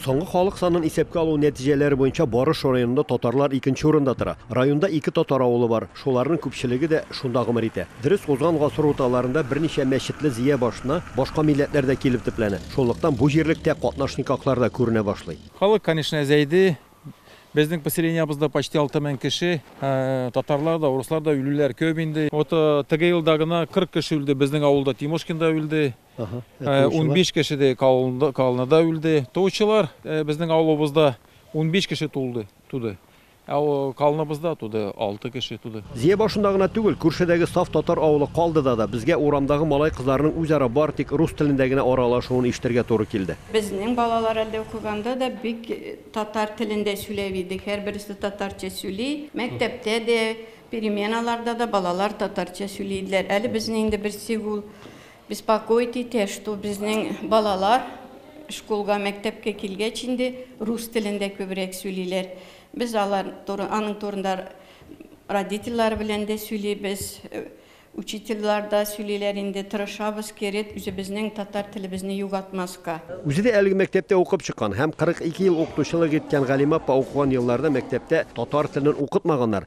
Соңгы халык санын исәпкә алу нәтиҗәләре буенча Барыш районында татарлар икенче урында тора. Районда ике татар авылы бар, шуларның күпчелеге дә шунда гомер итә. Дөрес, узган гасыр урталарында берничә мәчетле Зөя башына башка милләтләр дә килеп төпләнә. Шунлыктан бу җирлектә катнашникаклар да күренә башлый. Халык, конечно, әзәйде. Безнең поселениябызда почти алты мең кеше. Татарлар да, урыслар да үлүләр көп инде. Вот теге елда гына кырык кеше үлде, безнең авылда, Тимошкинда үлде. Унбиш кеше дә колоннада үлде. Туучылар безнең авылыбызда унбиш кеше тулды, туды. Ә колоннабызда туды, алты кеше туды. Зия башында гына түгел, күршедәге саф татар авылы Калдыда да безгә урамдагы малай-кызларның үзара бары тик рус телендә генә аралашуын ишетергә туры килде. Безнең балалар әле укыганда да бик татар телендә сүләп иде, һәрберсе татарча сүли. Мәктәптә дә, переменаларда да балалар татарча сүли иделәр. Әле безне инде берсе ул Беспокоит итә, что безнең балалар школга, мәктәпкә килгәч инде рус телендә күбрәк сөйлиләр. Без алар туры, аның турында родительлары белән дә сөйлибез, учительлар да сөйлиләр инде, тырышабыз кереп үзебезнең татар телебезне югатмаска. Үзе дә әлеге мәктәптә укып чыккан һәм 42 ел укытучылык иткән Галимапа укыган елларда мәктәптә татар телен укытмаганнар,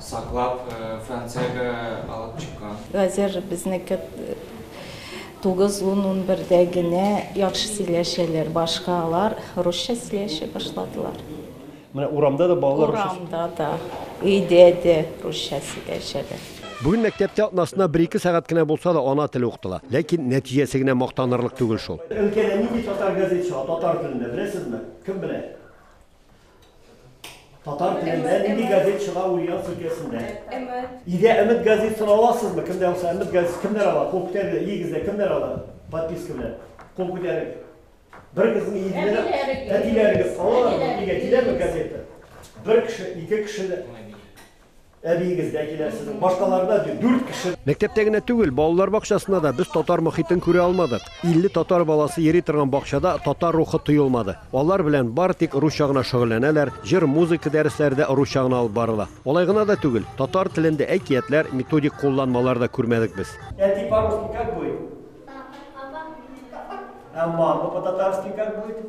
Саклап, Франциягә алып чыккан. Хәзер безнеке тугыз, ун, унбердә генә яхшы сөйләшәләр. Башка алар русча сөйләшә башладылар. Менә урамда да балалар русча сөйләшә? Урамда да, өйдә дә русча сөйләшәләр. Бүген мәктәптә атнасына бер-ике сәгать кенә булса да ана теле укытыла. Ләкин нәтиҗәсе генә мактанырлык түгел шул. Өлкәдә нинди татар газетасы татар телендә, беләсезме? Кем белә? Татар телендә нинди газет чыга Ульяновск өлкәсендә? Өмет. Өйдә Өмет газетасын аласызмы? Кемдә булса Өмет газетасы кемнәр ала? Кул күтәрегез, өегездә кемнәр ала? Подписка белән. Кул күтәрегез. Бер кызның өендә әтиләрегез алалар, өйгә киләме газета? Бер кеше, ике кеше Әбиегез дә килә сезнең, башкалар да бит, дүрт кеше. Мәктәптә генә түгел, балалар бакчасында да без татар мохитен күрә алмадык. 50 татар баласы йөри торган бакчада татар рухы тоелмады. Алар белән бары тик русча гына шөгыльләнәләр, җыр, музыка дәресләре дә русча гына алып барыла. Алай гына да түгел, татар телендә әкиятләр, методик кулланмалар да күрмәдек без. Әти, по-русски как будет? Папа. Ә мама, по-татарски как будет?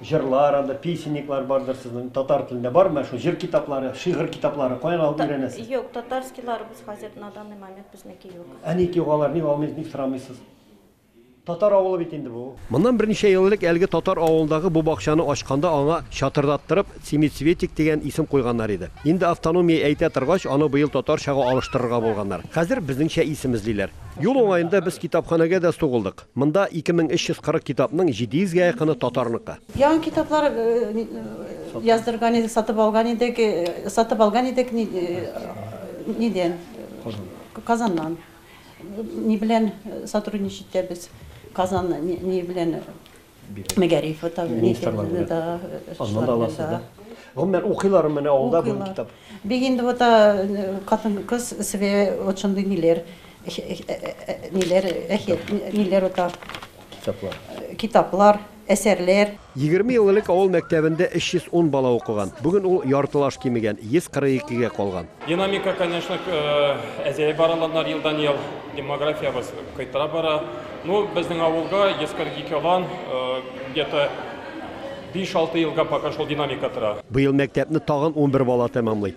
Җырлар анда, песенниклар бардыр сезнең, татар телендә бармы менә шул җыр китаплары, шигырь китаплары, каян алып өйрәнәсез? Юк, татарскийларыбыз хәзер на данный момент безнеке юк. Ә ник юк алар, ник алмыйсыз, ник сорамыйсыз? Татар авылы бит инде бу. Моннан берничә ел элек әлеге татар авылындагы бу бакчаны ачканда аңа чатырдаттырып Семицветик дигән исем куйганнар иде. Инде автономия әйтә торгач, аны быел татарчага алыштырырга булганнар. Хәзер безнеңчә исем эзлиләр. Юл уңаенда без китапханәгә дә сугылдык. Монда 2340 китапның 700 гә якыны татарныкы. Яңа китаплар яздырган идек, сатып алган идек, сатып алган идек нидән? Казаннан. Ни белән сотрудничать итәбез? Казан ни белән? Мәгариф ата. Аннан аласыз да. Гомумән укыйлар менә авылда бу китап. Бик инде вот катын-кыз себе вот шундый ниләр Ниләр, әһият, ниләр ата? Китаплар. Китаплар, әсәрләр. Егерме ел элек авыл мәктәбендә 310 бала укыган. Бүген ул яртылаш кимегән, 142-гә калган. Динамика, конечно, әзәя бара аланнар елдан-ел. Демографиябез кайтара бара. Ну, безнең авылга 142 алан, где-то биш-алты елга пока шул динамика тора. Быел мәктәпне тагын унбер бала тәмамлый.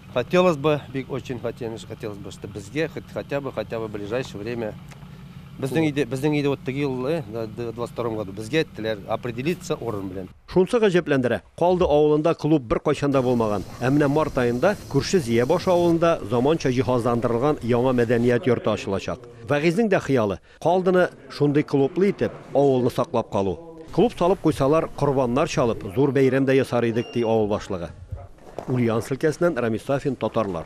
Хотелось бы, бик очень хотелось, хотелось бы, что безгә хоть хотя бы, хотя бы в ближайшее время Безнең иде, безнең иде вот теге елны, 22 году безгә әйттеләр, определиться урын белән. Шунсы гаҗәпләндерә. Калды авылында клуб бер кайчан да булмаган. Ә менә март аенда күрше Зиябаш авылында заманча җиһазландырылган яңа мәдәният йорты ачылачак. Вәгыйзнең дә хыялы. Калдыны шундый клублы итеп, авылны саклап калу. Клуб салып куйсалар, корбаннар чалып, зур бәйрәм дә ясар идек, ди авыл башлыгы. Ульяновск өлкәсеннән Рамис Сафин, Татарлар.